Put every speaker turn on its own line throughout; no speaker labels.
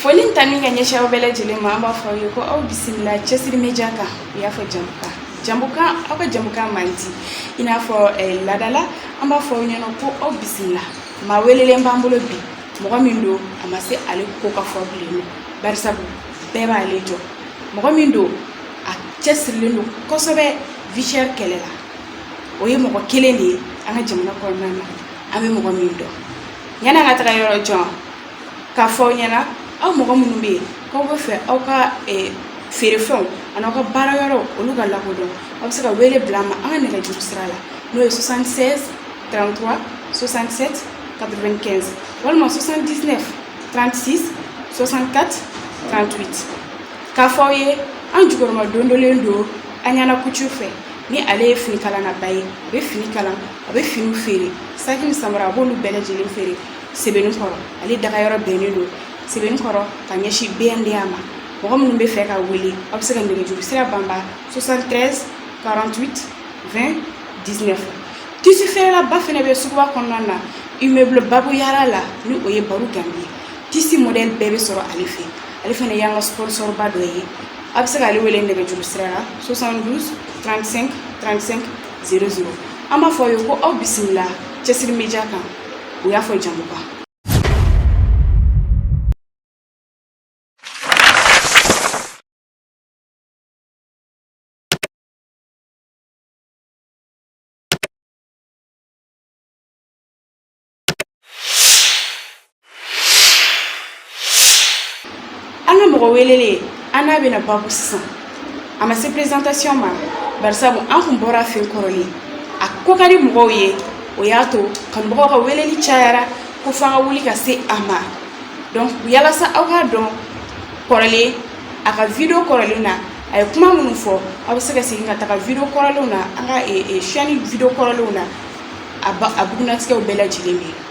Foli ni tanuni ka ɲɛsin aw bɛɛ lajɛlen ma an b'a fɔ aw ye ko aw bisimila cɛsiri media kan u y'a fɔ jamukan jamukan aw ka jamukan mandi i n'a fɔ eh, ladala an b'a fɔ aw ɲɛna ko aw bisimila maa welelen b'an bolo bi mɔgɔ min don a ma se ale ko ka fɔ bilen nɔ barisabu bɛɛ b'ale dɔn mɔgɔ min don a cɛsirilen don kosɛbɛ vie chère kɛlɛ la o ye mɔgɔ kelen de ye an ka jamana kɔnɔna na an bɛ mɔgɔ min dɔn yanni an ka taga yɔrɔ jan k'a fɔ aw ɲɛna aw mɔgɔ minnu bɛ yen k'aw bɛ fɛ aw ka feerefɛnw ani aw ka baara yɔrɔw olu ka lakodɔn aw bɛ se ka wele bila an ma an ka nɛgɛjuru sira la n'o ye 76 33 67 95 walima 79 36 64 38 k'a fɔ aw ye an jukɔrɔmadondonlen don an ɲana couture fɛ ni ale ye finikalannaba ye a bɛ fini kalan a bɛ finiw feere saki ni samara a b'olu bɛɛ lajɛlen feere Sebeninkɔrɔ ale dagayɔrɔ bɛnnen don Sebeninkɔrɔ ka ɲɛsin BNDA ma mɔgɔ minnu bɛ fɛ k'a wele aw bɛ se ka nɛgɛjuru sira banba soixante-treize quarante-huit vingt dix-neuf tisi feerelaba fana bɛ suguba kɔnɔna na immeuble Babu Yara la ni o ye Baro Ganbi ye tisi mɔdɛli bɛɛ bɛ sɔrɔ ale fɛ ale fana y'an ka sponsorba dɔ ye aw bɛ se k'ale wele nɛgɛjuru sira la soixante-douze trente-cinq trente-cinq zéro zéro an b'a fɔ aw ye ko aw bisimila cɛsiri media kan u y'a fɔ jamukan an ka mɔgɔ welelen an n'a bɛna babu sisan a ma se présentation ma barisabu an kun bɔr'a fɛ kɔrɔlen a ko ka di mɔgɔw ye o y'a to kanubagaw ka weleli cayara ko f'an ka wuli ka se a ma donc yalasa aw k'a dɔn kɔrɔlen a ka video kɔrɔlen na a ye kuma minnu fɔ aw bɛ se ka segin ka taga video kɔrɔlenw na an ka chaîne video kɔrɔlenw na a bugunnatigɛw bɛɛ lajɛlen bɛ yen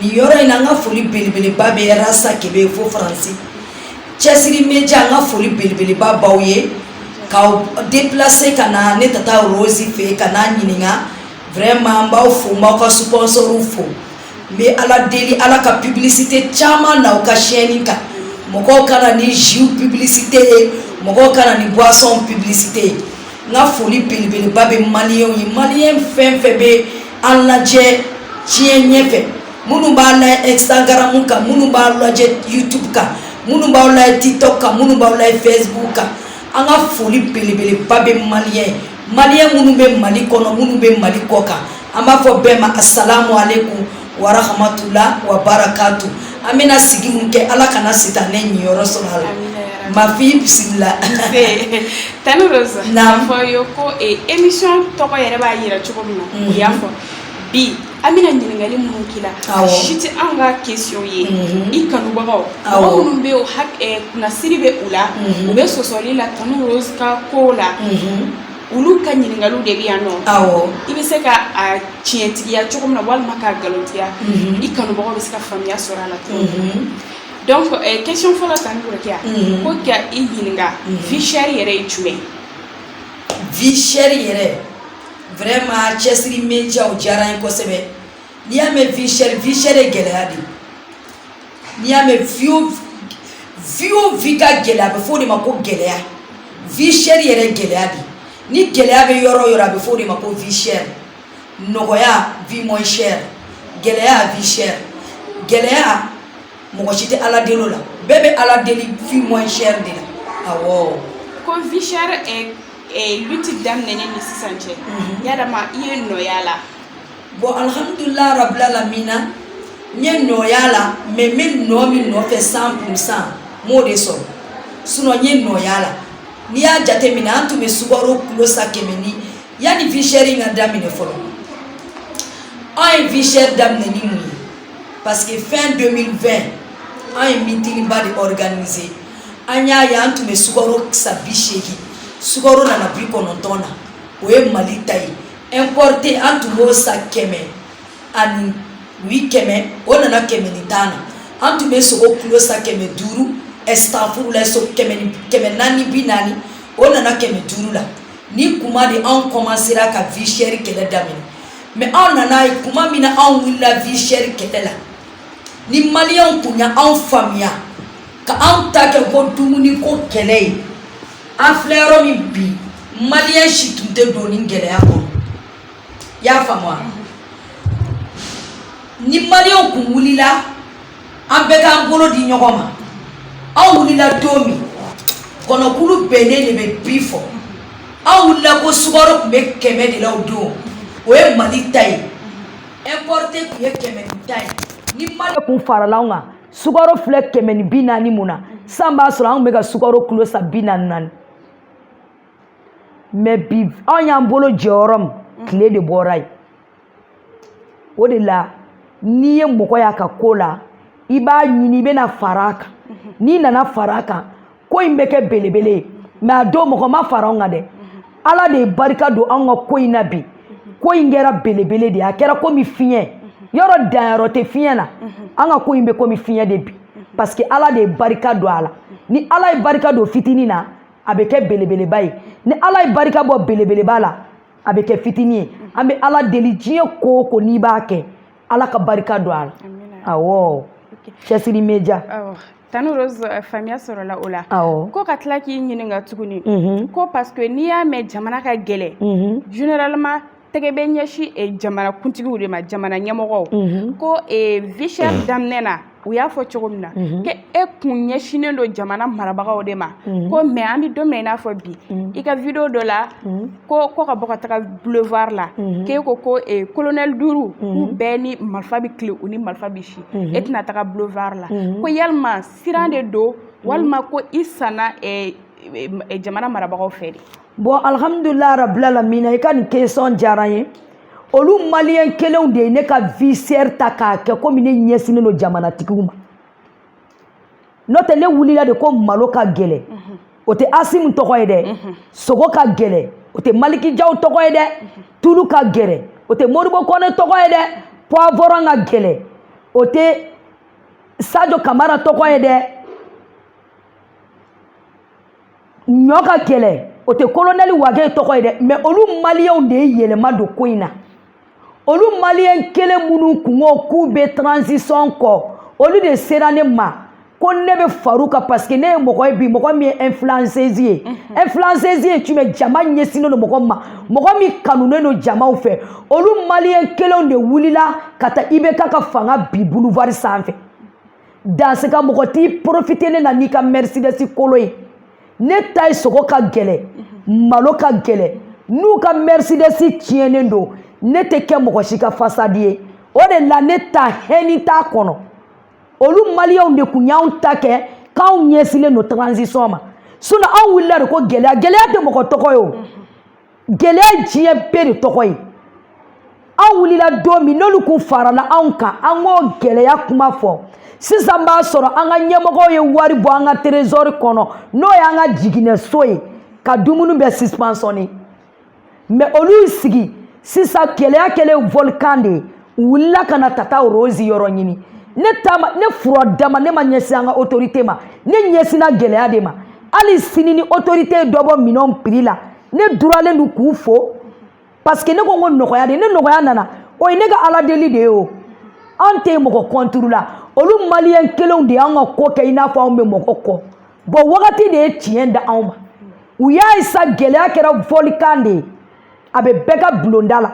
nin yɔrɔ in na an ka foli belebeleba bɛ rasa kebe fo faransi cɛsiri media an ka foli belebeleba b'aw ye k'aw deplase ka na ne tata rosi fɛ ka n'a ɲininka vraiment an b'aw fo n b'aw ka sponsoriw fo n bɛ ala deli ala ka publicité caman na u ka chaîne kan mɔgɔw ka na ni jus publicité ye mɔgɔw ka na ni boisson publicité ye n ka foli belebeleba bɛ maliyɛnw ye maliyɛn fɛn fɛn bɛ an lajɛ diɲɛ ɲɛfɛ minnu b'a lajɛ instagram kan minnu b'a lajɛ youtube kan minnu b'aw lajɛ tiktok kan minnu b'aw lajɛ facebook kan an ka foli belebeleba bɛ maliyɛn ye maliyɛn minnu bɛ mali kɔnɔ minnu bɛ mali kɔ kan an b'a fɔ bɛɛ ma asalamu aleykum warahamatula wa barakatu an bɛna sigi min kɛ ala kana sitanɛ niyɔrɔ sɔrɔ a la mafi
bisimila tanti rose n'a fɔ ye ko emission tɔgɔ yɛrɛ b'a yira cogo min na o y'a fɔ bi an bɛna ɲininkali minnu k'i la a si tɛ anw ka question ye i kanubagaw mɔgɔ minnu bɛ yen kunnasiri bɛ u la u bɛ sɔsɔli la tanti rose ka ko la olu ka ɲininkaliw de bɛ yan nɔ i bɛ se ka a tiɲɛtigiya cogo min na walima k'a nkalontigiya i kanubagaw bɛ se ka faamuya sɔrɔ a la donc question fɔlɔ tanti a ko ka i ɲininka vie chère yɛrɛ ye
jumɛn vie chère yɛrɛ vraiment cɛsiri media diyara n ye kosɛbɛ n'i y'a mɛn vie chère gɛlɛya de n'i y'a mɛn vie o vie ka gɛlɛya a bɛ f'o de ma ko gɛlɛya vie chère yɛrɛ gɛlɛya de ni gɛlɛya bɛ yɔrɔ yɔrɔ a bɛ f'o de ma ko vie chère nɔgɔya vie moins chère gɛlɛya vie chère gɛlɛya mɔgɔ si tɛ ala deli o la bɛɛ bɛ ala deli vie moins chère de la awɔ ko
vie chère lutte daminɛnen ni sisan cɛ yala ma i ye nɔ y'a la
bon alhamdulillah rabbil alamina n ye nɔ y'a la mais n bɛ nɔ min nɔfɛ cent pour cent n m'o de sɔrɔ sinon n ye nɔ y'a la n'i y'a jateminɛ an tun bɛ sukaro kilo san kɛmɛ ni yanni vie chère ka daminɛ fɔlɔ an ye vie chère daminɛ ni mun ye parce que fin 2020 an ye meetingba de organiser an y'a ye an tun bɛ sukaro san bi seegin sukaro nana bi kɔnɔntɔn na o ye mali ta ye importé an tun b'o san kɛmɛ ani oui kɛmɛ o nana kɛmɛ ni tan na an tun bɛ sogo kilo san kɛmɛ duuru astafurulayi so kɛmɛ naani bi naani o nana kɛmɛ duuru la ni kuma de anw kɔmansera ka vie chère kɛlɛ daminɛ mais anw nana ye kuma min na anw wulila vie chère kɛlɛ la ni maliyɛnw tun ye anw faamuya ka anw ta kɛ ko dumuni ko kɛlɛ ye an filɛ yɔrɔ min bi maliyɛn si tun tɛ don nin gɛlɛya kɔnɔ i y'a faamu wa ni maliyɛnw tun wulila an bɛɛ k'an bolo di ɲɔgɔn ma anw wulila don min kɔnɔkulu bɛnnen de bɛ bi fɔ anw wulila ko sukaro tun bɛ kɛmɛ de la o don o ye mali ta ye importe tun ye kɛmɛ ni tan ye ni maliyɛnw tun farala anw kan sukaro filɛ kɛmɛ ni bi naani min na san b'a sɔrɔ anw bɛ ka sukaro kilo san bi naani naani mɛ bi anw y'an bolo jɔ yɔrɔ min tile de bɔra yen o de la n'i ye mɔgɔ y'a ka ko la i b'a ɲini i bɛna fara a kan n'i nana fara a kan ko in bɛ kɛ belebele ye mɛ a don mɔgɔ ma fara anw kan dɛ ala de ye barika don anw ka ko in na bi ko in kɛra belebele de ye a kɛra komi fiɲɛ yɔrɔ danyɔrɔ tɛ fiɲɛ na an ka ko in bɛ komi fiɲɛ de bi parce que ala de ye barika don a la ni ala ye barika don fitinin na a bɛ kɛ belebeleba ye ni ala ye barika bɔ belebeleba la a bɛ kɛ fitinin ye an bɛ ala deli diɲɛ ko o ko n'i b'a kɛ ala ka barika don a la awɔ cɛsiri média tanti rose
eh, faamuya sɔrɔla o la ko ka tila k'i ɲininka tuguni mhm. ko parce que n'i y'a mɛn jamana ka gɛlɛn mhm. généralement tɛgɛ bɛ ɲɛsin eh, jamana kuntigiw de ma jamana ɲɛmɔgɔw mhm. ko eh, vie chère daminɛ na u y'a fɔ cogo min na k'e tun ɲɛsinnen don jamana marabagaw de ma ko mɛ an bɛ don min i n'a fɔ bi i ka video dɔ la ko ko ka bɔ ka taga boulevard la k'e ko ko kolonɛli duuru k'u bɛɛ ni marifa bɛ tile u ni marifa bɛ si e tɛna taga boulevard la ko yalima siran de don walima ko i sanna jamana marabagaw fɛ de bon alhamdulillah
rabbil alamin i ka nin question diyara n ye olu maliyɛn kelenw de ye ne ka vie chère ta k'a kɛ komi ne ɲɛsinnen don jamanatigiw ma n'o tɛ ne wulila de ko malo ka gɛlɛn mhm. o tɛ asimi tɔgɔ ye dɛ mhm. sogo ka gɛlɛn o tɛ maliki jaw tɔgɔ ye dɛ mhm. tulu ka gɛlɛn o tɛ modibo kɔnɛ tɔgɔ ye dɛ poivron ka gɛlɛn o tɛ sajo kamara tɔgɔ ye dɛ ɲɔ ka gɛlɛn o tɛ kolonɛli wage tɔgɔ ye dɛ mɛ olu maliyɛnw de ye yɛlɛma don ko in na olu maliyɛn kelen minnu tun ko k'u bɛ transition kɔ olu de sera ne ma ko ne bɛ far'u kan parce que ne ye mɔgɔ ye bi mɔgɔ min ye influenceuse ye mhm. influenceuse ye jumɛn jama ɲɛsinnen don mɔgɔ ma mɔgɔ min kanunen don jamaw fɛ olu maliyɛn kelenw de wulila ka taa IBK ka fanga bin boulevard sanfɛ dans ce cas mɔgɔ t'i porofite ne na n'i ka mɛrisidɛsi kolo ye ne ta ye sogo ka gɛlɛ malo ka gɛlɛ n'u ka mɛrisidɛsi tiɲɛnen don ne tɛ kɛ mɔgɔ si ka fasadi ye o de la ne ta hɛni t'a kɔnɔ olu maliyɛnw de kun y'anw ta kɛ k'anw ɲɛsinnen don transition ma sinɔn anw wulila de ko gɛlɛya gɛlɛya tɛ mɔgɔ tɔgɔ ye o gɛlɛya diɲɛ bɛɛ de tɔgɔ ye an wulila don min n'olu kun farala anw kan an k'o gɛlɛya kuma fɔ sisan b'a sɔrɔ an ka ɲɛmɔgɔw ye wari bɔ an ka terezɔri kɔnɔ n'o y'an ka jiginɛso ye ka dumuni bɛɛ subventionner mɛ olu sigi sisan gɛlɛya kɛlen volkan de ye u wulila ka na tata rose yɔrɔ ɲini ne fura dama ne ma ɲɛsin an ka autorité ma ne ɲɛsinna gɛlɛya de ma hali sini ni autorité ye dɔ bɔ minɛnw prix la ne duralen don k'u fo parce que ne ko n ko nɔgɔya de ne nɔgɔya nana o ye ne ka ala deli de ye o an tɛ mɔgɔ kɔnturu la olu maliyɛn kelenw de y'an ka ko kɛ i n'a fɔ anw bɛ mɔgɔ kɔ bɔn wagati de ye tiɲɛ da anw ma u y'a ye sa gɛlɛya kɛra volkan de ye a bɛ bɛɛ ka bulonda la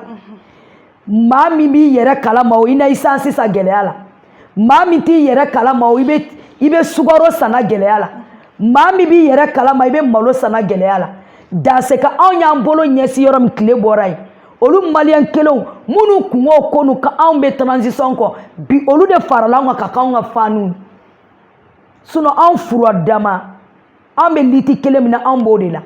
maa min b'i yɛrɛ kalama o i na esansi san gɛlɛya la maa min t'i yɛrɛ kalama o i bɛ sukaro sanna gɛlɛya la maa min b'i yɛrɛ kalama i bɛ malo sanna gɛlɛya la dans ce cas anw y'an bolo ɲɛsin yɔrɔ min tile bɔra yen olu maliyɛn kelenw minnu kungo ko n'u ka anw bɛ transition kɔ bi olu de farala anw kan ka k'anw ka faniw sinɔn anw fura dama an bɛ liti kelen min na an b'o de la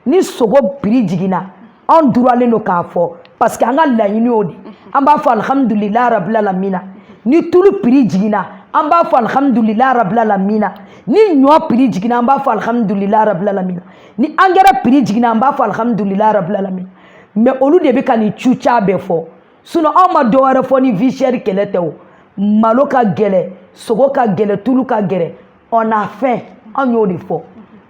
ni sogo piri jiginna an duralen don k'a fo parce que an ka laɲini y'o de an b'a fɔ alihamudulila rabila lamina ni tulu piri jiginna an b'a fɔ alihamudulila rabila lamina ni ɲɔ piri jiginna an b'a fɔ alihamudulila rabila lamina ni angɛrɛ piri jiginna an b'a fɔ alihamudulila rabila lamina mɛ olu de bɛ ka nin cuca bɛɛ fɔ sinɔn anw ma dɔwɛrɛ fɔ ni vie chère kɛlɛ tɛ o malo ka gɛlɛ sogo ka gɛlɛ tulu ka gɛlɛ on a faim anw y'o de fɔ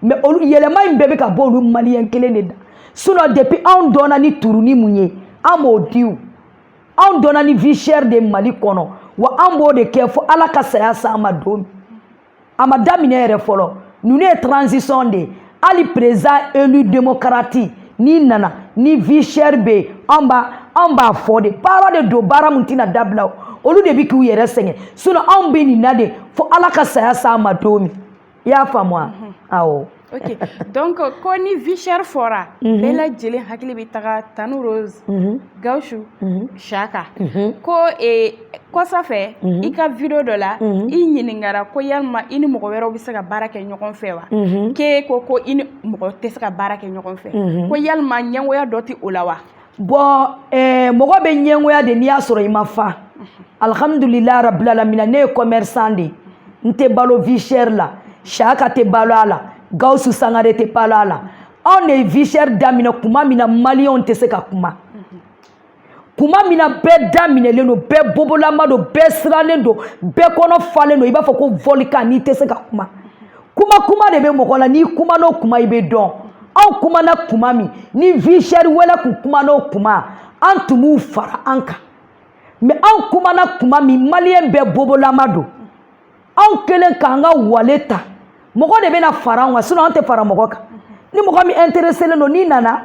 mɛ olu yɛlɛma in bɛɛ bɛ ka bɔ olu maliyɛn kelen de da sinɔn depuis anw dɔnna ni turuni mun ye an m'o di o anw dɔnna ni vie chère de mali kɔnɔ wa an b'o de kɛ fo ala ka saya s'an ma don min a ma daminɛ yɛrɛ fɔlɔ ninnu ye transition de ye hali président élu demokarati n'i nana ni vie chère bɛ yen an b'a fɔ de baara de don baara min tɛna dabila olu de bɛ k'u yɛrɛ sɛgɛn sinɔn anw bɛ nin na de fo ala ka saya s'an ma don min i y'a faamu wa mhm. awɔ.
ok donc ko ni vie chère fɔra mhm. bɛɛ lajɛlen hakili bɛ taga tanti rose. Mhm. Gawusu Siyaka ko kɔsa fɛ i ka video dɔ la i ɲininkara ko yalima i ni mɔgɔ wɛrɛw bɛ se ka baara kɛ ɲɔgɔn fɛ wa k'e ko ko i ni mɔgɔ tɛ se ka baara kɛ ɲɔgɔn fɛ ko yalima ɲɛngoya dɔ tɛ o la wa
bon mɔgɔ bɛ ɲɛngoya de n'i y'a sɔrɔ i ma fa alihamudulila rabilalamina ne ye commerçant de ye n tɛ balo vie chère la Siyaka tɛ balo a la Gawusu Sangare tɛ balo a la anw de ye vie chère daminɛ kuma min na maliyɛnw tɛ se ka kuma kuma min na bɛɛ daminɛlen don bɛɛ bobolama don bɛɛ sirannen don bɛɛ kɔnɔ falen don i b'a fɔ ko volcan n'i tɛ se ka kuma kuma kuma de bɛ mɔgɔ la n'i kuman'o kuma i bɛ dɔn anw kumana kuma min ni vie chère wɛrɛ kun kuman'o kuma an tun b'u fara an kan mais anw kumana kuma min maliyɛn bɛɛ bobolama don anw kelen k'an ka wale ta mɔgɔ de bɛna fara anw kan sinon an tɛ fara mɔgɔ kan ni mɔgɔ min intéressé len don n'i nana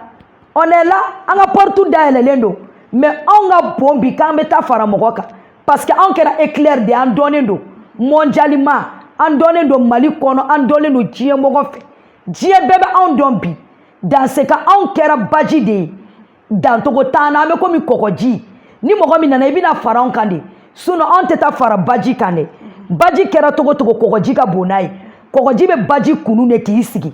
on est là an ka porte dayɛlɛlen don mais anw ka bon bi k'an bɛ taa fara mɔgɔ kan parce que anw kɛra éclair de ye an dɔnnen don mondialement an dɔnnen don Mali kɔnɔ an dɔnnen don diɲɛ mɔgɔ fɛ diɲɛ bɛɛ bɛ anw dɔn bi dans ce cas anw kɛra baji de ye dancogo t'an na an bɛ komi kɔgɔji ni mɔgɔ min nana i bɛna fara anw kan de sinon anw tɛ taa fara baji kan dɛ baji kɛra cogo cogo kɔgɔji ka bon n'a ye kɔgɔji bɛ baji kunu de k'i sigi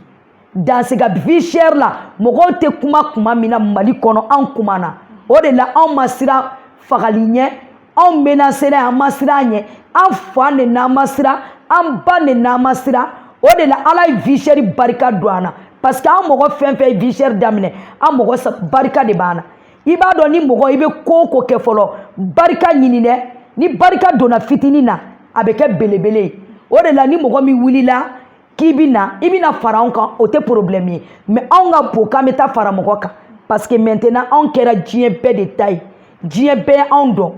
dans ce cas vie chère la mɔgɔw tɛ kuma kuma min na Mali kɔnɔ anw kumana o de la anw ma siran fagali ɲɛ anw menacé ra an ma siran ɲɛ an fa nenin'an ma siran an ba nenin'an ma siran o de la Ala ye vie chère barika don an na parce que an mɔgɔ fɛn fɛn ye vie chère daminɛ an mɔgɔ barika de b'an na i b'a dɔn ni mɔgɔ i bɛ ko o ko kɛ fɔlɔ barika ɲini dɛ ni barika donna fitinin na a bɛ kɛ belebele ye o de la ni mɔgɔ min wulila k'i bɛ na i bɛna fara anw kan o tɛ problème ye mais anw ka bon k'an bɛ taa fara mɔgɔ kan parce que maintenant anw kɛra diɲɛ bɛɛ de ta ye diɲɛ bɛɛ anw dɔn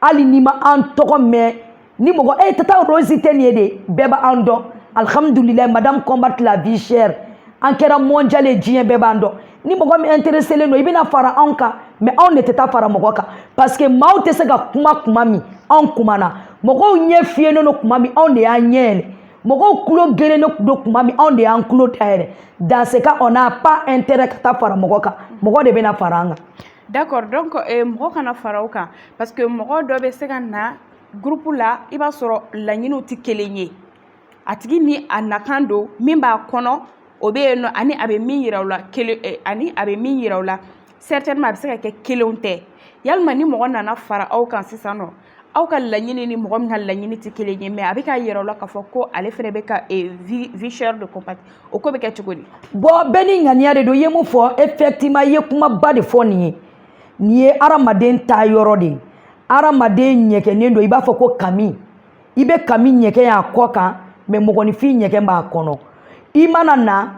hali n'i ma an tɔgɔ mɛn ni mɔgɔ e Tata Rose tɛ nin ye de bɛɛ b'an dɔn alhamdulilayi madame combat la vie chère an kɛra mondial ye diɲɛ bɛɛ b'an dɔn ni mɔgɔ min intéressé len don i bɛna fara anw kan mais anw de tɛ taa fara mɔgɔ kan parce que maaw tɛ se ka kuma kuma min anw kumana mɔgɔw ɲɛ fiyennen don kuma min anw de y'an ɲɛ yɛlɛ mɔgɔw kulo gerennen don kuma min anw de y'an kulo dayɛlɛ dans ce cas on n'a pas intérêt ka taa fara mɔgɔ kan mɔgɔ de bɛna fara an kan d'accord donc
eh, mɔgɔ kana fara aw kan parce que mɔgɔ dɔ bɛ se ka na groupe la i b'a sɔrɔ laɲiniw tɛ kelen ye a tigi ni a nakan don min b'a kɔnɔ o bɛ yen nɔ ani a bɛ min yira o la eh, ani a bɛ min yira o la certainement a bɛ se ka kɛ kelenw tɛ yalima ni mɔgɔ nana fara aw kan sisan nɔ aw ka laɲini ni mɔgɔ min ka laɲini tɛ kelen ye mais a bɛ k'a yira o la k'a fɔ ko ale fana bɛ ka vie chère de combattre o ko bɛ kɛ cogo di. bon bɛɛ ni ŋaniya de don i
ye mun fɔ effectivement i ye kumaba de fɔ nin ye nin ye hadamaden ta yɔrɔ de ye hadamaden ɲɛgɛnnen don i b'a fɔ ko kami i bɛ kami ɲɛgɛn y'a kɔ kan mais mɔgɔninfin ɲɛgɛn b'a kɔnɔ i mana na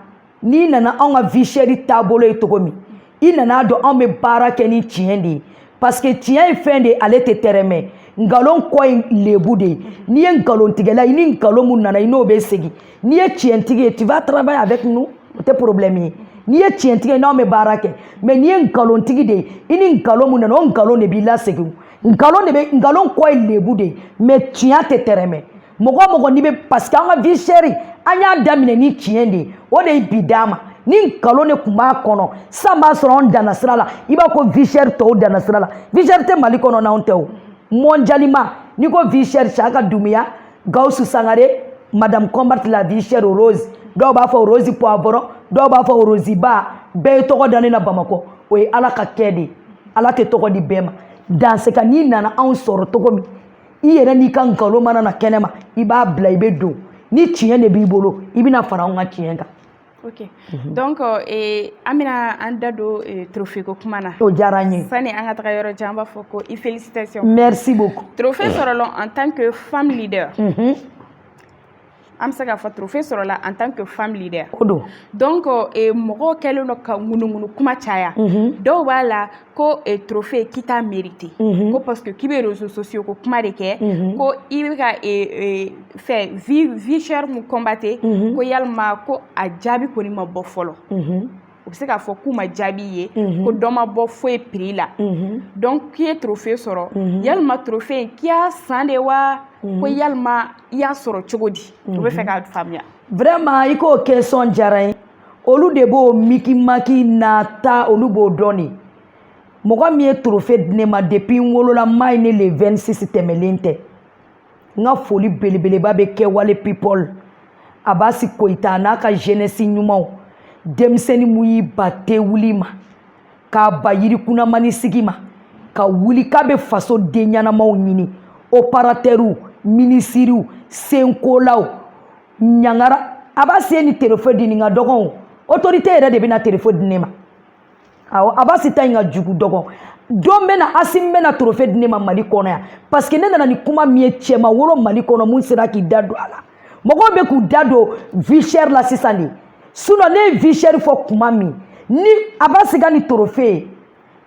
n'i nana anw ka vie chère taabolo ye cogo min i nana dɔn anw bɛ baara kɛ ni tiɲɛ de ye parce que tiɲɛ ye fɛn de ye ale tɛ tɛrɛmɛ nkalon kɔ ye lebu de ye n'i ye nkalontigɛla i ni nkalon mun nana i n'o bɛ segin n'i ye tiɲɛtigi ye tu vas travailler avec nous o tɛ problème ye n'i ye tiɲɛtigi ye n'anw bɛ baara kɛ mais n'i ye nkalontigi de ye i ni nkalon mun nana o nkalon de b'i lasegin nkalon de bɛ nkalon kɔ ye lebu de ye mais tiɲɛ tɛ tɛrɛmɛ mɔgɔ mɔgɔ n'i bɛ parce que an ka vie chère an y'a daminɛ ni tiɲɛ de ye o de ye bi d'an ma ni nkalon de tun b'a kɔnɔ sisan b'a sɔrɔ anw danna sira la i b'a ko vie chère tɔw danna sira la vie chère tɛ mali kɔnɔ n'anw tɛ o mondialement n'i ko vie chère saka dumuya gawusu sangare madame combat la vie chère rose dɔw b'a fɔ rose poivron dɔw b'a fɔ rose ba bɛɛ ye tɔgɔ da ne na bamakɔ o ye ala ka kɛ de ye ala tɛ tɔgɔ di bɛɛ ma dans ce cas n'i nana anw sɔrɔ cogo min i yɛrɛ n'i ka nkalon mana na kɛnɛma i b'a bila i bɛ don ni tiɲɛ de b'i bolo i bɛna fara anw ka tiɲɛ kan ok mhm.
donc eh, an bɛna an da don eh, trophée ko kuma na o diyara n ye sani
an ka taga yɔrɔ jan
an b'a fɔ ko i félicitation merci beaucoup
trophée sɔrɔla en
tant que femme leader mhm. an bɛ se k'a fɔ trophée sɔrɔla en tant que femme leader o don donc
eh, mɔgɔw
kɛlen don ka ŋunuŋunu kuma caya dɔw b'a la ko eh, trophée k'i t'a mérité ko parce que k'i bɛ réseaux sociaux ko kuma de kɛ ko i bɛ ka eh, fɛ vie vie chère mun combattre ko yalima ko a jaabi kɔni ma bɔ fɔlɔ u bɛ se k'a fɔ k'u ma jaabi ye ko dɔ ma bɔ foyi prix la donc k'i ye trophée sɔrɔ yalima trophée in k'i y'a san de wa ko yalima i y'a sɔrɔ cogo di u bɛ fɛ k'a faamuya vraiment i
k'o question diyara n ye olu de b'o mikimaki na ta olu b'o dɔn de mɔgɔ min ye trophée di ne ma depuis n wolola n m'a ye ni le 26 tɛmɛlen tɛ n ka foli belebeleba bɛ kɛwale people abasi koyita a n'a ka jeunesse ɲumanw denmisɛnnin mun y'i ban te wuli ma k'i ban yirikunamani sigi ma ka wuli k'a bɛ faso den ɲɛnamaw ɲini operatɛriw minisiriw senkolaw ɲangara abasi ye nin trophée di nin ka dɔgɔn autorité yɛrɛ de bɛna trophée di ne ma awɔ abasi ta in ka jugu dɔgɔn don bɛ na asimi bɛna trophée di ne ma mali kɔnɔ yan parce que ne nana ni kuma min ye cɛ ma wolo mali kɔnɔ mun sera k'i da don a la mɔgɔw bɛ k'u da don vie chère la sisan de sinon ne ye vie chère fɔ kuma min ni abasi ka nin trophée ye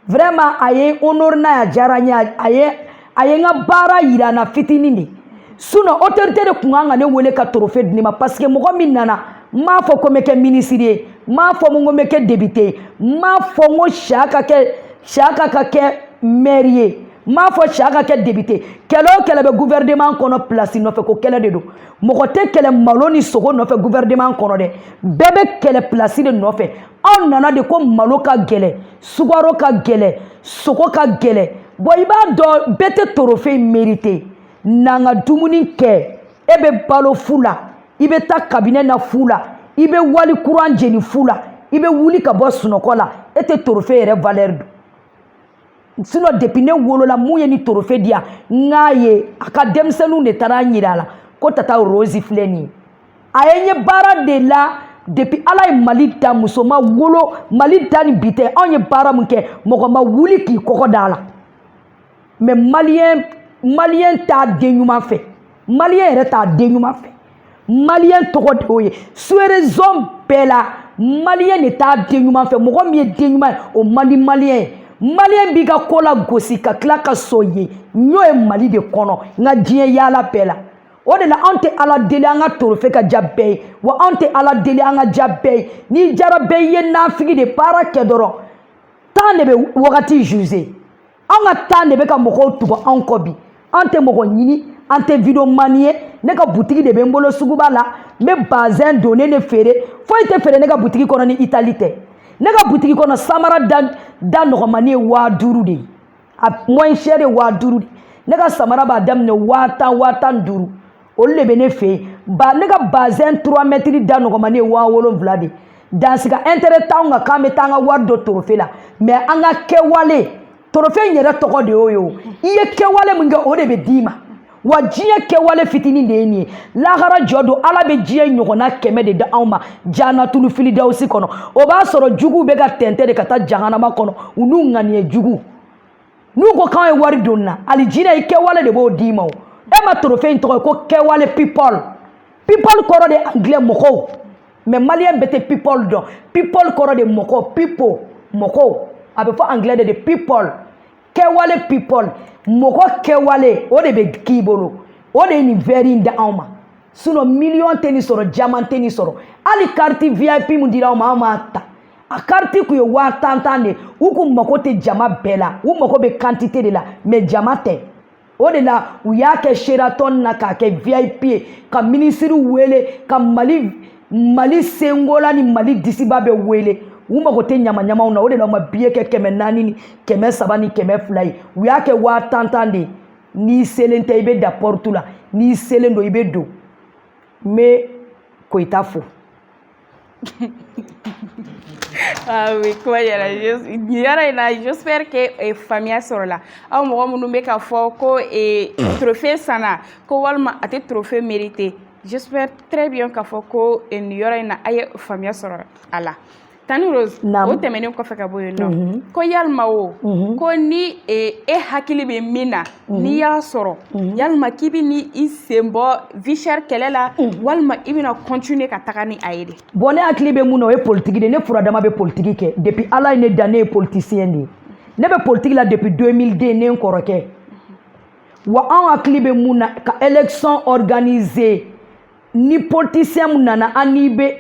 vraiment a ye honneur n'a ya diyara n ye a ye a ye n ka baara yira n na fitinin de sinɔn otorite de tun kan ka ne wele ka torofe di ne ma paseke mɔgɔ min nana n m'a fɔ ko n bɛ kɛ minisiri ye n m'a fɔ ko n bɛ kɛ depite ye n m'a fɔ n ko siyaka ka kɛ mɛri ye n m'a fɔ siyaka ka kɛ depite kɛlɛ o kɛlɛ bɛ guvɛrɛneman kɔnɔ pilasi nɔfɛ ko kɛlɛ de don mɔgɔ tɛ kɛlɛ malo ni sogo nɔfɛ guvɛrɛneman kɔnɔ dɛ bɛɛ bɛ kɛlɛ pilasi de nɔfɛ aw nana de ko malo ka gɛlɛ sugaro ka gɛlɛ sogo ka gɛlɛ bɔn i b'a dɔn bɛɛ tɛ torofe merite n'an ka dumuni kɛ e bɛ balo fu la i bɛ taa kabinɛ na fu la i bɛ wali kuran jeni fu la i bɛ wuli ka bɔ sunɔgɔ la e tɛ torofe yɛrɛ valɛri dɔn sinɔn depi ne wolola min ye nin torofe di yan n k'a ye a ka denmisɛnninw de taara n yira a la ko tata rosi filɛ nin ye a ye n ye baara de la depi ala ye mali da muso ma wolo mali da ni bi tɛ anw ye baara min kɛ mɔgɔ ma wuli k'i kɔgɔ da a la mɛ maliyɛn maliyɛn t'a den ɲuman fɛ maliyɛn yɛrɛ t'a den ɲuman fɛ maliyɛn tɔgɔ de y'o ye suerezɔn bɛɛ la maliyɛn de t'a den ɲuman fɛ mɔgɔ min ye den ɲuman ye o man di maliyɛn ye maliyɛn b'i ka ko lagosi ka tila k'a sonyɛ n y'o ye mali de kɔnɔ n ka diɲɛ yaala bɛɛ la o de la anw tɛ ala deli an ka torofe ka diya bɛɛ ye wa anw tɛ ala deli an ka diya bɛɛ ye n'i diyara bɛɛ i ye nafigi de baara kɛ dɔrɔn tan de bɛ wagati juze anw ka tan de bɛ ka mɔgɔw tugu anw kɔ bi an tɛ mɔgɔ ɲini an tɛ videomani ye ne ka butigi de bɛ n bolo suguba la n bɛ bazɛn donnen de feere foyi tɛ feere ne ka butigi kɔnɔ ni itali tɛ ne ka butigi kɔnɔ samara da nɔgɔmani ye waa duuru de ye a moins cher ye waa duuru de ne ka samara b'a daminɛ waa tan waa tan ni duuru olu de bɛ ne fɛ yen ba ne ka bazɛn turuwa mɛtiri da nɔgɔmani ye waa wolonwula de dans ce cas ɛntɛrɛ t'anw kan k'an bɛ taa an ka wari don torofe la mɛ an ka kɛwale torofe in yɛrɛ tɔgɔ de y'o ye o i ye kɛwale min kɛ o de bɛ d'i ma wa diɲɛ kɛwale fitinin de ye nin ye lahara jɔ don ala bɛ diɲɛ ɲɔgɔnna kɛmɛ de d'anw ma janatulu firidawusi kɔnɔ o b'a sɔrɔ juguw bɛ ka tɛntɛn de ka taa jahanama kɔnɔ u n'u ŋaniye jugu n'u ko k'an ye wari don na alijinɛ i kɛwale de b'o d'i ma o e ma torofe in tɔgɔ ye ko kɛwale people people kɔrɔ de anglais mɔgɔw mais maliyɛn bɛɛ tɛ people dɔn people kɔrɔ de mɔgɔ people mɔgɔw a bɛ fɔ anglais de people kɛwale people mɔgɔ kɛwale o de bɛ k'i bolo o de ye nin vɛri in d'anw ma sinɔn miliyɔn tɛ nin sɔrɔ jaman tɛ nin sɔrɔ hali kariti vip min dira anw ma anw m'a ta a kariti kun ye waa tan tan de u kun mako tɛ jama bɛɛ la u mako bɛ kantite de la mɛ jama tɛ o de la u y'a kɛ seratɔn na k'a kɛ vip ye ka minisiriw wele ka mali mali senkola ni mali disiba bɛɛ wele u mago tɛ ɲamaɲamaw na o de la u ma biye kɛ kɛmɛ naani ni kɛmɛ saba ni kɛmɛ fila ye u y'a kɛ waa tan tan de ye n'i selen tɛ i bɛ da pɔritu la n'i selen don i bɛ don n bɛ koyita fo
ah oui kuma yɛrɛ yɔrɔ in na j'espère que eh, faamuya sɔrɔla aw mɔgɔ minnu bɛ ka fɔ ko eh, trophée sanna ko walima a tɛ trophée mérité j'espère très bien k'a fɔ ko eh, nin yɔrɔ in na a ye faamuya sɔrɔ a la tanti rose o tɛmɛnen kɔfɛ ka bɔ yen nɔ mhm. ko yalima o mhm. ko ni e hakili bɛ min na Mhm. n'i y'a sɔrɔ mhm. yalima k'i bɛna i sen bɔ vie chère kɛlɛ la mhm. walima i bɛna kɔntine ka taga ni a ye de bɔn ne hakili bɛ mun na
o ye politiki de ye ne furadama bɛ politiki kɛ depuis ala ye ne dan ne ye politisiyɛn de ye ne bɛ politiki la depuis 2002 ne n kɔrɔkɛ wa anw hakili bɛ mun na ka élection organiser ni politisiyɛn mun nana an n'i bɛ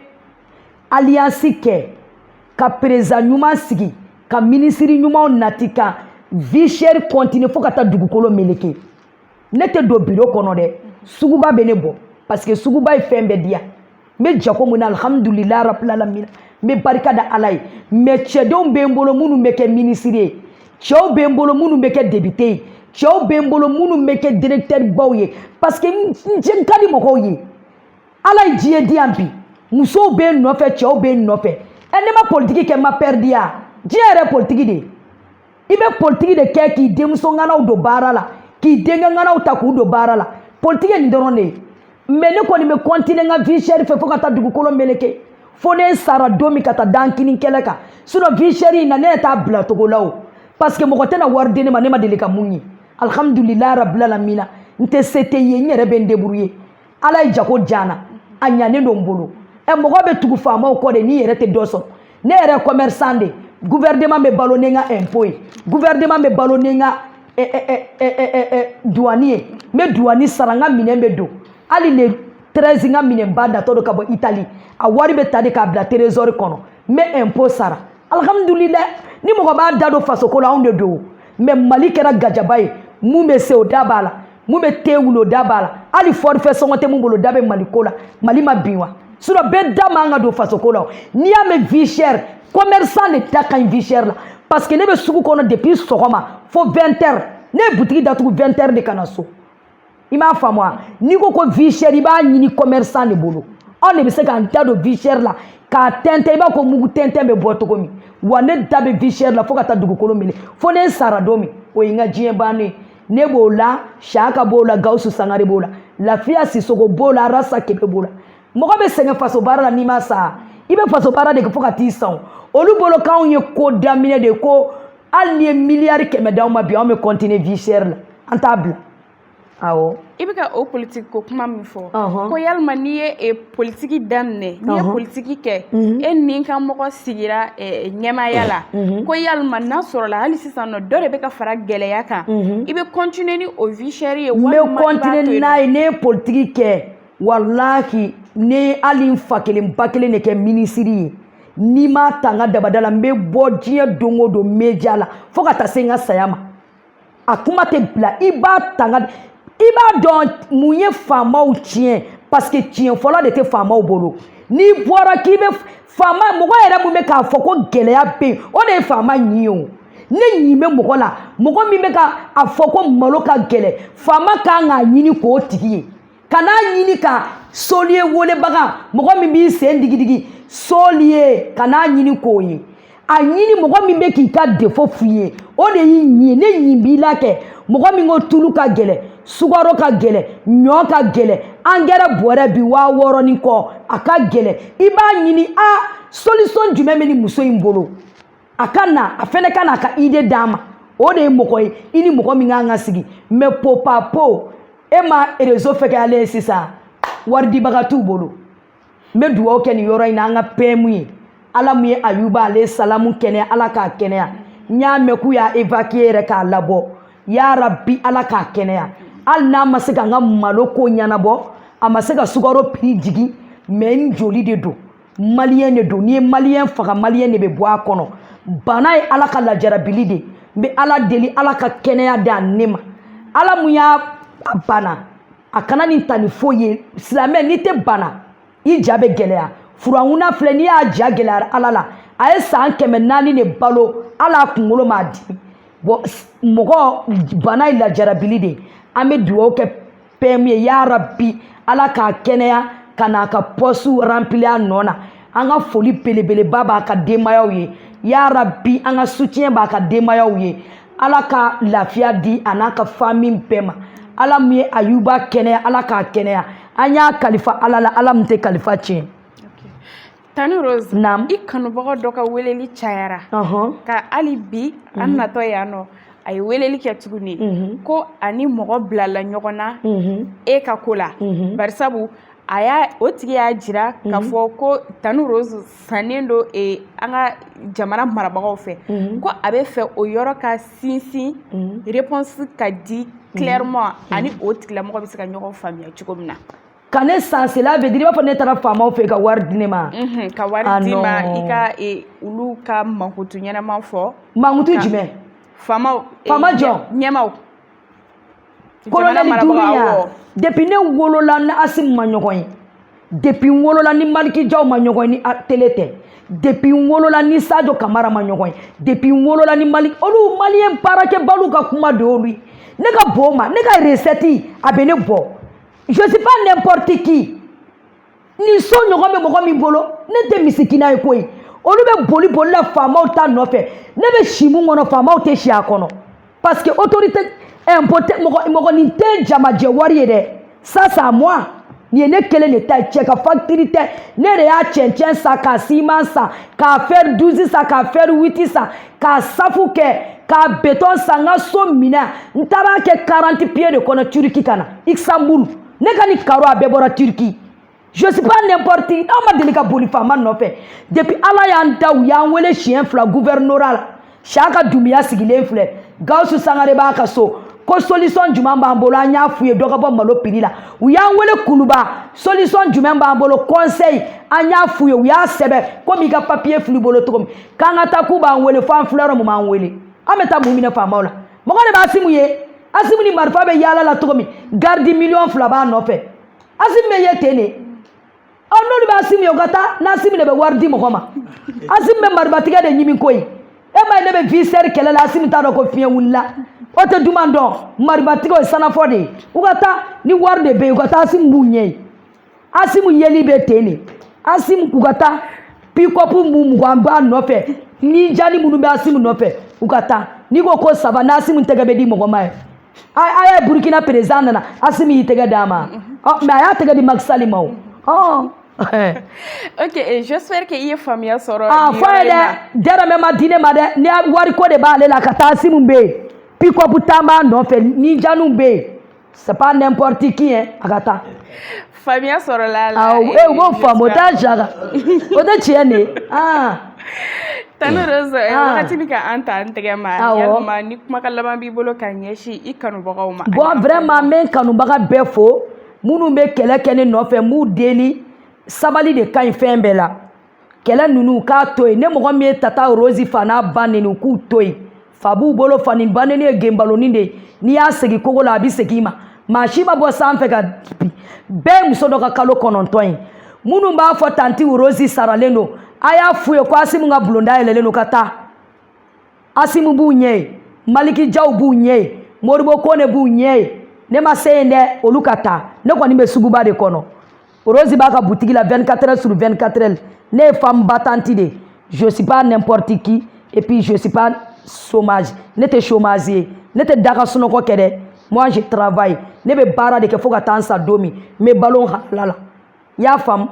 aliyansi kɛ ka perezan ɲuman sigi ka minisiri ɲumanw nati ka vie chère kɔntine fo ka taa dugukolo meleke ne tɛ don biro kɔnɔ dɛ suguba bɛ ne bɔ parce que suguba ye fɛn bɛɛ di yan n bɛ jago mun na alihamudulila rabilalamina n bɛ barika da ala ye mɛ cɛdenw bɛ n bolo minnu bɛ kɛ minisiri ye cɛw bɛ n bolo minnu bɛ kɛ depite ye cɛw bɛ n bolo minnu bɛ kɛ directeur baw ye parce que n n ka di mɔgɔw ye ala ye diɲɛ di yan bi musow bɛ n nɔfɛ cɛw bɛ n nɔfɛ ɛ ne ma politiki kɛ n ma pɛridi ya diɲɛ yɛrɛ politiki de i bɛ politiki de kɛ k'i denmuso ŋanaw don baara la k'i denkɛ ŋanaw ta k'u don baara la politiki ye nin dɔrɔn de ye mɛ ne kɔni bɛ kɔntine n ka vie chère fɛ fo ka taa dugukolo meleke fo ne sara don min ka taa da n kini kɛrɛ kan sinɔ vie chère in na ne t'a bila togo la o parce que mɔgɔ tɛna wari di ne ma ne ma deli ka mun ye alhamdulilayi rabilalamina n tɛ se tɛ ye n yɛrɛ bɛ n debrouye ala ye jago diya n na a ɲanen don n bolo ɛ eh, mɔgɔ bɛ tugu faamaw kɔ de n'i yɛrɛ tɛ dɔ sɔrɔ ne yɛrɛ commerçant de gouvernement bɛ balo ni n ka impôt ye gouvernement bɛ balo ni n ka duwani ye n bɛ duwani sara n ka minɛn bɛ don hali le terezi n ka minɛnba natɔ don ka bɔ itali a wari bɛ ta de k'a bila terezɔri kɔnɔ n bɛ ɛnpo sara alihamudulila ni mɔgɔ b'a da don fasoko la anw de don mɛ mali kɛra gajaba ye mun bɛ se o da b'a la mun bɛ te wuli o da b'a la hali fɔrifɛ sɔngɔ tɛ mun bolo o da bɛ mali ko la mali ma bin wa sinɔ bɛɛ da man ka don fasoko la n'i y'a mɛn vie chère commerçant de da ka ɲi vie chère la parce que ne bɛ sugu kɔnɔ depuis sɔgɔma fo 20 heures ne ye butigi datugu 20 heures de ka na so i m'a faamu wa n'i ko ko vie chère i b'a ɲini commerçant de bolo anw de bɛ se k'an da don vie chère la k'a tɛntɛn i b'a ko mugu tɛntɛn bɛ bɔ cogo min wa ne da bɛ vie chère la fo ka taa dugukolo minɛ fo ne sara don min o ye n ka diɲɛ bannen ye ne b'o la saka b'o la gawusu sangare b'o la lafiya sisɔkɔ b'o la arasa kebe b'o la mɔgɔ bɛ sɛgɛn faso baara la n'i ma sa i bɛ faso baara de kɛ fo ka t'i sa olu bolo k'anw ye ko daminɛ de ko hali n'i ye miliyari kɛmɛ d'anw ma bi anw bɛ kɔntine vie chère la an t'a bila awɔ i bɛ ka o politiki ko kuma min fɔ ko yalima n'i ye e, politiki daminɛ n'i ye politiki kɛ mhm. e n'i ka mɔgɔ sigira e, ɲɛmaaya la mhm. ko yalima n'a sɔrɔla hali sisan nɔ dɔ de bɛ ka fara gɛlɛya kan mhm. i bɛ kɔntine ni o vie chère ye walima i b'a to yen n bɛ kɔntine n'a ye ne ye politiki kɛ walahi ne hali n fa kelen ba kelen de kɛ minisiri ye n'i m'a ta n ka dabada la n bɛ bɔ diɲɛ don o don media la fo ka taa se n ka saya ma a kuma tɛ bila i b'a ta n ka i b'a dɔn mun ye faamaw tiɲɛ parce que tiɲɛ fɔla de tɛ faamaw bolo n'i bɔra k'i bɛ faama mɔgɔ yɛrɛ mun bɛ k'a fɔ ko gɛlɛya bɛ yen o de ye faama ɲi ye o ne ɲin bɛ mɔgɔ la mɔgɔ min bɛ ka a fɔ ko malo ka gɛlɛn faama kan k'a ɲini k'o tigi ye kan'a ɲini ka soliye welebaga mɔgɔ min b'i sen digidigi soliye kan'a ɲini k'o ye a ɲini mɔgɔ min bɛ k'i ka defo f'i ye o de y'i ɲi ne ɲin b'i la kɛ mɔgɔ min ko tulu ka gɛlɛ sukaro ka gɛlɛ ɲɔ ka gɛlɛ angɛrɛ bɔrɛ bi waa wɔɔrɔ ni kɔ a ka gɛlɛ i b'a ɲini a solisɔn jumɛn bɛ nin muso in bolo a ka na a fɛnɛ ka na a ka ide d'a ma o de ye mɔgɔ ye i ni mɔgɔ min kan ka sigi mɛ popa po e ma rezo fɛgɛyalen ye sisan waridibaga t'u bolo n bɛ dugawu kɛ nin yɔrɔ in na an ka pɛmu ye ala min ye ayuba ale salamu kɛnɛya ala k'a kɛnɛya n y'a mɛn k'u y'a evakiye yɛrɛ k'a labɔ ya rabi ala k'a kɛnɛya hali n'a ma se ka n ka malo ko ɲɛnabɔ a ma se ka sukaro piri jigin mɛ n joli de don maliyɛn de don n'i ye maliyɛn faga maliyɛn de bɛ bɔ a kɔnɔ bana ye ala ka lajarabili de n bɛ ala deli ala ka kɛnɛya di ale ma ala mun y'a bana a kan'a nin ta ni foyi ye silamɛ n'i tɛ bana i ja bɛ gɛlɛya firawuna filɛ n'i y'a ja gɛlɛyara ala la a ye san kɛmɛ naani de balo hali a kunkolo m'a dimi bɔn mɔgɔ bana ye lajarabili de an bɛ dugawu kɛ pɛmu ye ya rabi ala k'a kɛnɛya ka n'a ka pɔsu ranpili a nɔ na an ka foli belebeleba b'a ka denbayaw ye ya rabi an ka sutiɲɛ b'a ka denbayaw ye ala ka lafiya di a n'a ka fami bɛɛ ma ala min ye ayuba kɛnɛya ala k'a kɛnɛya an y'a kalifa ala la ala min tɛ kalifa tiɲɛ
Tanti rose i kanubaga dɔ ka weleli cayara ka hali bi an natɔ yan nɔ a ye weleli kɛ tuguni ko ani mɔgɔ bilala ɲɔgɔn na e ka ko la barisabu a y'a o tigi y'a jira ka fɔ ko tanti rose sannen don an ka jamana marabagaw fɛ ko a b'a fɛ o yɔrɔ ka sinsin réponse ka di clairement ani o tigilamɔgɔ bɛ se ka ɲɔgɔn faamuya cogo min na ka ne
san cela veut dire i b'a fɔ ne taara faamaw fɛ ka wari di ne ma ka wari ah,
di ma i ka e, olu ka mankutu ɲɛnama fɔ mankutu jumɛn
faamaw e,
faama jɔn
ɲɛmaw kolonɛli duuru ya depuis ne wolola ni asimu ma ɲɔgɔn ye depuis n wolola ni maliki jaw ma ɲɔgɔn ye ni tele tɛ depuis n wolola ni sajo kamara ma ɲɔgɔn ye depuis n wolola ni mali olu maliyɛn baarakɛbaliw ka kuma de y'olu ye ne ka bɔn ma ne ka recette a bɛ ne bɔ je suis pas n'importe qui nin so ɲɔgɔn bɛ mɔgɔ min bolo ne tɛ misikina ye koyi olu bɛ boli boli la faamaw ta nɔfɛ ne bɛ si mun kɔnɔ faamaw tɛ si a kɔnɔ parce que autorité impote mɔgɔ mɔgɔ nin tɛ jamajɛ wari ye dɛ ça c'est à moi nin ye ne kelen de ta ye cɛ ka facture tɛ ne de y'a cɛncɛn san k'a ciment san k'a fer douze san k'a fer huit san k'a safu kɛ k'a béton san n ka so minɛ n taara kɛ 40 pieds de kɔnɔ turki ka na istanbul ne ka nin carreau a bɛɛ bɔra turki je suis pas n'importe qui an ma deli ka boli faama nɔfɛ depuis ala y'an dan u y'an wele siɲɛ fila gouvernorat la siyaka dumuya sigilen filɛ gawusu sangare b'a ka so ko solution jumɛn b'an bolo an y'a f'u ye dɔ ka bɔ malo prix la u y'an wele kuluba solution jumɛn b'an bolo conseil an y'a f'u ye u y'a sɛbɛn komi i ka papiye filɛ i bolo cogo min k'an ka taa k'u b'an wele fo an filɛ yɔrɔ min u m'an wele an bɛ taa mun minɛ faamaw la mɔgɔ de bɛ asimu ye asimu ni marifa bɛ yaala la cogo min garidi miliyɔn fila b'a nɔfɛ asimu bɛ ye ten de ɔ n'olu bɛ asimu ye u ka taa n'asimu de bɛ wari di mɔgɔ ma asimu bɛ maribatiga de ɲimi koyi e ma ye ne bɛ vie chère kɛlɛ la asimu t'a dɔn ko fiɲɛ wulila o tɛ duman dɔn maribatigaw ye sanafɔ de ye u ka taa ni wari de bɛ yen u ka taa asimu b'u ɲɛ ye asimu yeli bɛ ten de asimu k'u ka taa pikɔpu mun mugan b'a nɔfɛ ni jali minnu bɛ asimu nɔfɛ u ka taa n'i ko ko saba n'asimu tɛgɛ bɛ di mɔgɔ ma ye a ye burukina perezidan nana asimu y'i tɛgɛ d'a ma mais a y'a tɛgɛ di maki sali ma
o ok eh, j'espère que i ye faamuya sɔrɔ ah, fɔ ye
dɛ dɛrɛmɛ ma di ne ma dɛ ni wariko de b'ale la ka taa asimu bɛ yen pikɔpu tan b'a nɔfɛ ni jaliw bɛ yen c'est pas n'importe qui hein a ka taa
faamuya sɔrɔla la awɔ e b'o faamu o
t'a jara o tɛ tiɲɛ de ye aa
tanti rosi wagati bɛ ka an ta an tɛgɛ ma yalima ni kumakan laban b'i bolo ka ɲɛsin i kanubagaw ma bon vraiment n bɛ
n kanubaga bɛɛ fo minnu bɛ kɛlɛ kɛ ne nɔfɛ n b'u deli sabali de ka ɲi fɛn bɛɛ la kɛlɛ ninnu k'a to yen ni mɔgɔ min ye tata rosi fa n'a ba neni u k'u to yen fa b'u bolo fa ni ba neni ye genbaloni de ye n'i y'a segin kogo la a bɛ segin i ma maa si ma bɔ sanfɛ ka bin bɛɛ ye muso dɔ ka kalo kɔnɔntɔn ye minnu b'a fɔ tanti rosi saralen don a y'a f'u ye ko asimu ka bulonda yɛlɛlen don ka taa asimu b'u ɲɛ ye maliki jaw b'u ɲɛ ye modibo kone b'u ɲɛ ye ne ma se yen dɛ olu ka taa ne kɔni bɛ suguba de kɔnɔ Rose b'a ka butigi la 24 heures sur 24 heures ne ye femme battante de je suis pas n'importe qui et puis je suis pas chômage ne tɛ chômage ye ne tɛ daga sunɔgɔ kɛ dɛ moi je travaille ne bɛ baara de kɛ fo ka taa n sa don min n bɛ balo n halala la i y'a faamu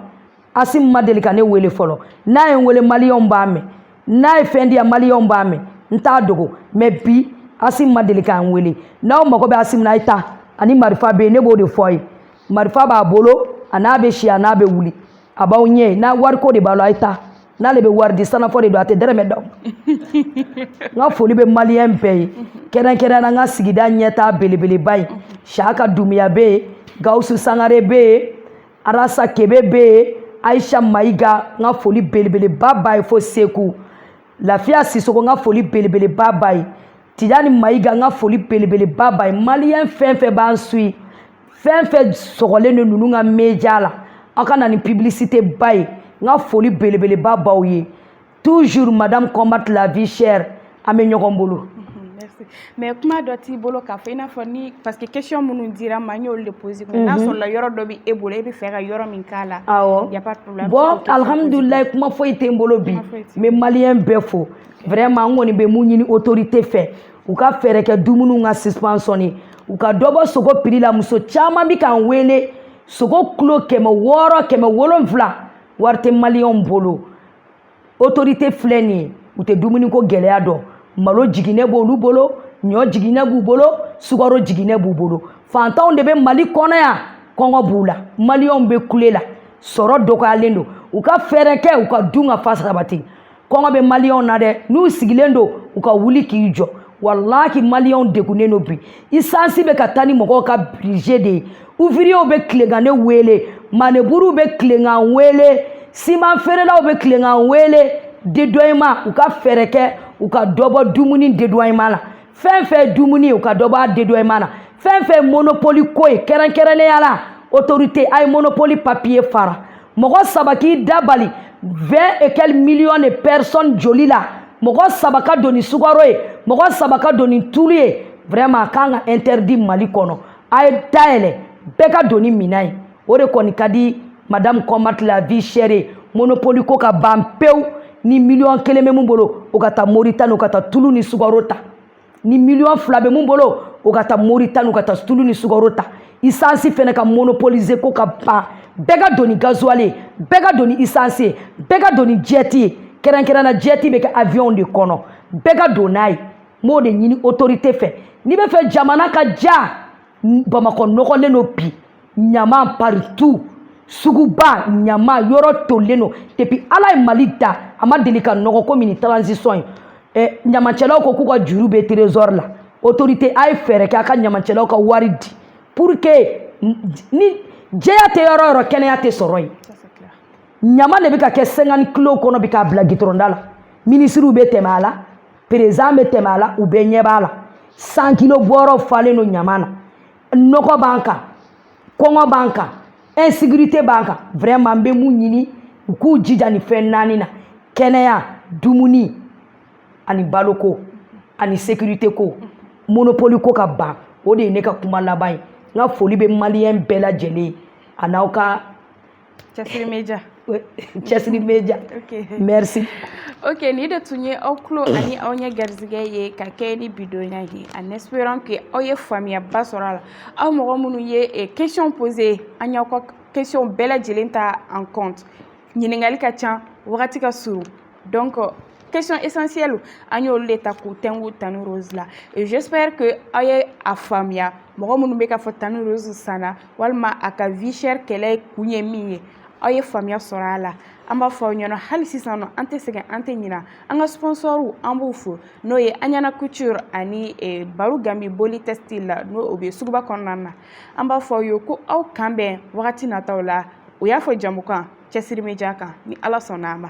asim ma deli ka ne wele fɔlɔ n'a ye n wele maliyɛnw b'a mɛn n'a ye fɛn di yan maliyɛnw b'a mɛn n t'a dogo mais bi asim ma deli ka n wele n'aw mago bɛ asim na a ye taa a ni marifa bɛ yen ne b'o de fɔ a ye marifa b'a bolo a n'a bɛ si a n'a bɛ wuli a b'aw ɲɛ n'a wariko de b'a la a ye taa n'ale bɛ wari di sanafɔ de don a tɛ dɛrɛmɛ d'aw ma n ka foli bɛ maliyɛn bɛɛ ye kɛrɛnkɛrɛn na n ka sigida ɲɛtaa belebeleba ye saka dumuya bɛ yen gawusu sangare bɛ yen arasa kebe bɛ yen ayisa mayiga n ka foli belebeleba b'a ye fo seku lafiya sisoko n ka foli belebeleba b'a ye Tidjane Maïga n ka foli belebeleba b'a ye maliyɛn fɛn fɛn b'an suit fɛn fɛn sɔgɔlen de ninnu ka media la aw ka na ni publicité ba ye n ka foli belebeleba b'aw ye toujours madame combat la vie chère an bɛ ɲɔgɔn
bolo mais kuma dɔ t'i bolo k'a fɔ i n'a fɔ ni parce que question minnu dira n ma n y'olu de poser mais n'a mhm. sɔrɔla yɔrɔ dɔ bɛ e bolo e b'a fɛ ka yɔrɔ min k'a la awɔ y a pas de problème bon alhamdulilayi
kuma foyi tɛ n bolo bi n bɛ maliyɛn bɛɛ fo vraiment n kɔni bɛ mun ɲini autorité fɛ u ka fɛɛrɛ kɛ dumuniw ka subventionner u ka dɔ bɔ sogo prix la muso caman bɛ k'an wele sogo kilo kɛmɛ wɔɔrɔ kɛmɛ wolonfila wari tɛ maliyɛnw bolo autorité filɛ nin ye u tɛ dumuniko gɛlɛya dɔn malo jiginɛ b'olu bolo ɲɔ jiginɛ b'u bolo sukaro jiginɛ b'u bolo fantanw de bɛ mali kɔnɔ yan kɔngɔ b'u la maliyɛnw bɛ kule la sɔrɔ dɔgɔyalen don u ka fɛɛrɛ kɛ u ka dunkafa sabati kɔngɔ bɛ maliyɛnw na dɛ n'u sigilen don u ka wuli k'i jɔ walahi maliyɛnw degunnen don bi isansi bɛ ka taa ni mɔgɔw ka budget de ye ouvriyew bɛ tilen ka ne wele maneburuw bɛ tilen k'an wele siman feerelaw bɛ tilen k'an wele dédouanement u ka fɛɛrɛ kɛ u ka dɔ bɔ dumuni dédouanement la fɛn fɛn dumuni u ka dɔ bɔ a dédouanement la fɛn fɛn monopoli ko ye kɛrɛnkɛrɛnnenya la autorité a ye monopoli papiye fara mɔgɔ saba k'i da bali 20 et quelques millions de personnes joli la mɔgɔ saba ka don ni sukaro ye mɔgɔ saba ka don ni tulu ye vraiment a kan ka interdit mali kɔnɔ a ye dayɛlɛ bɛɛ ka don ni minan ye o de kɔni ka di madame combat la vie chère ye monopoli ko ka ban pewu ni miliyɔn kelen bɛ mun bolo o ka taa moritani o ka taa tulu ni sukaro ta ni miliyɔn fila bɛ mun bolo o ka taa moritani u ka taa tulu ni sukaro ta isansi fɛnɛ ka monopolise ko ka ban bɛɛ ka don ni gazuwali ye bɛɛ ka don ni isansi ye bɛɛ ka don ni jɛti ye kɛrɛnkɛrɛnna jɛti bɛ kɛ aviyɔnw de kɔnɔ bɛɛ ka don n'a ye n b'o de ɲini otorite fɛ n'i bɛ fɛ jamana ka ja bamakɔ nɔgɔlen don bi ɲama partout suguba ɲama yɔrɔ tolilen don depuis ala ye mali da a ma deli ka nɔgɔ komi nin transition ye ɲamacɛlaw ko k'u ka juru bɛ trésor la autorité a ye fɛɛrɛ kɛ a ka ɲamacɛlaw ka wari di pour que ni jɛya tɛ yɔrɔ yɔrɔ kɛnɛya tɛ sɔrɔ yen ɲama de bɛ ka kɛ 50 kilos kɔnɔ bɛ k'a bila gitɔrɔnda la minisiriw bɛ tɛmɛ a la perezidan bɛ tɛmɛ a la u bɛɛ ɲɛ b'a la 100 kilos bɔrɔ falen don ɲama na nɔgɔ b'an kan kɔngɔ b'an kan insécurité b'an kan vraiment n bɛ mun ɲini u k'u jija nin fɛn naani na kɛnɛya dumuni ani baloko ani sécurité ko monopole ko ka ban o de ye ne ka kuma laban ye n ka foli bɛ maliyɛn bɛɛ lajɛlen ye a n'aw ka
Cɛsiri media
cɛsiri media merci ok
nin de tun ye aw tulo ani aw ɲɛ garisɛgɛ ye ka kɛɲɛ ni bidonya ye en espérant que aw ye faamuyaba sɔrɔ a la aw mɔgɔ minnu ye question posé an y'aw ka question bɛɛ lajɛlen ta en compte ɲininkali ka ca wagati ka surun donc euh, question essentielle an y'olu de ta k'u tɛnku tanti rose la et j'espère que aw ye a faamuya mɔgɔ minnu bɛ k'a fɔ tanti rose sanna walima a ka vie chère kɛlɛ kun ye min ye aw ye faamuya sɔrɔ a la an b'a fɔ aw ɲɛna hali sisan nɔ an tɛ sɛgɛn an tɛ ɲina an ka sponsɔrw an b'u fo n'o ye aɲana couture ani eh, baro gambi boli textile n'o o bɛ suguba kɔnɔna na an b'a fɔ aw ye ko aw k'an bɛn wagati nataw la o y'a fɔ jamukan cɛsiri media kan ni ala sɔnna a ma